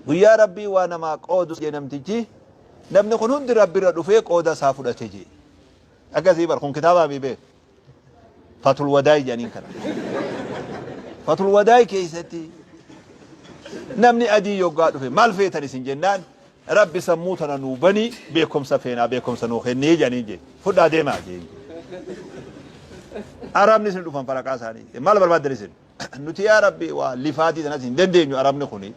Guyyaa Rabbii waa namaa qoodu jee namtichi namni kun hundi Rabbirra dhufee qooda isaa fudhate jee. Akkasii bar kun kitaabaa mii beek. Fatul Wadaay jedhaniin kana. Fatul Wadaay keessatti namni adii yoggaa dhufe maal feetan isin jennaan Rabbi sammuu tana nuu banii beekumsa feenaa beekumsa nuu kennee jedhaniin jee. Fudhaa deemaa jee. Arabni isin dhufan faraqaa isaanii. Maal barbaaddan isin? nuti yaa rabbi waa lifaatii tanas hin dandeenyu arabni kuni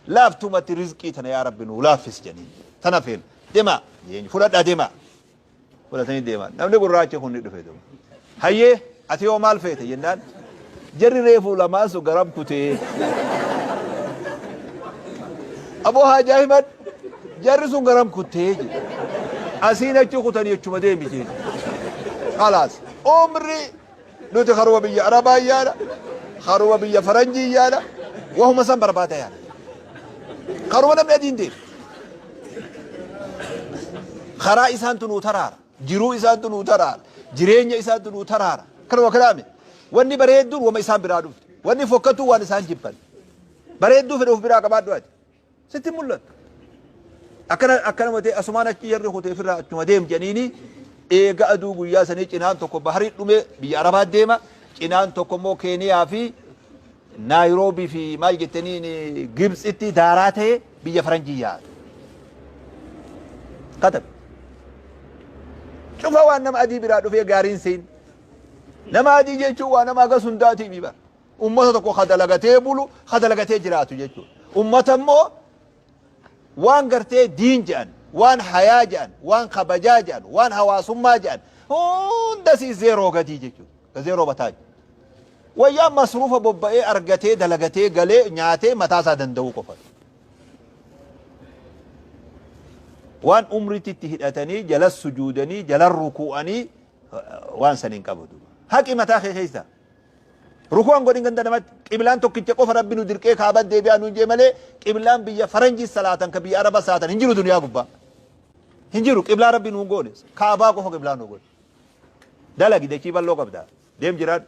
laaftumatti rizqii tana yaa rabbi nuu laaffis janiin tana feena demaa jeen fudhadha demaa fudhatanii deeman namni gurraachi kun ni dhufe duuba hayyee ati yoo maal feete jennaan jarri reefuu lamaan sun garam kutee aboo haajaa himan jarri sun garam kuttee jedhe asiin achi kutanii achuma deemi jeen khalaas umri Nuti karuma biyya Arabaa yaana, karuma biyya Faranjii yaana, wahuma san barbaada yaana. Karuma namni adiin deemu. Karaa isaantu nuu taraara. Jiruu isaantu nuu taraara. Jireenya isaantu nuu taraara. Kanuma kalaame. Wanni bareedduun wama isaan biraa dhufte. Wanni fokkatu waan isaan jibban. Bareedduu fedha of biraa qabaadhu ati. Sitti hin mul'attu. Akkana akkanuma ta'e asumaan achi jarri kutee firraa achuma deem jedhaniini eega aduu guyyaa sanii cinaan tokko baharii dhumee biyya Arabaa deema cinaan tokko immoo Keeniyaa fi Naayiroobii fi maal jettaniin Gibtsitti daaraa ta'e biyya Faranjii yaa'atu. Katabe. Cufa waan nama adii biraa dhufee gaariin seen. Nama adii jechuun waa nama hagas hundaatiif bara. Ummata tokko ka dalagatee bulu, ka dalagatee jiraatu jechuudha. Ummata immoo waan gartee diin jedhan, waan hayaa jedhan, waan kabajaa jedhan, waan hawaasummaa jedhan hundasii zeeroo gadii jechuudha. Ka zeeroo bataa jiru. Wayyaa masruufa bobba'ee argatee dalagatee galee nyaatee mataa isaa danda'uu qofa. Waan umriitti itti hidhatanii jalas sujuudanii jalan rukuu'anii waan san hin qabadu. Haqi mataa kee keessa Rukuu an godhin ganda namatti qiblaan tokkicha qofa rabbi nu dirqee kaaba deebi'aa nuun jee malee qiblaan biyya faranjii salaatan ka biyya araba salaatan hin jiru duniyaa gubbaa hin jiru qiblaa rabbi nuun goone kaabaa qofa qiblaa nu goone dalagi dachii bal'oo qabda deem jiraadhu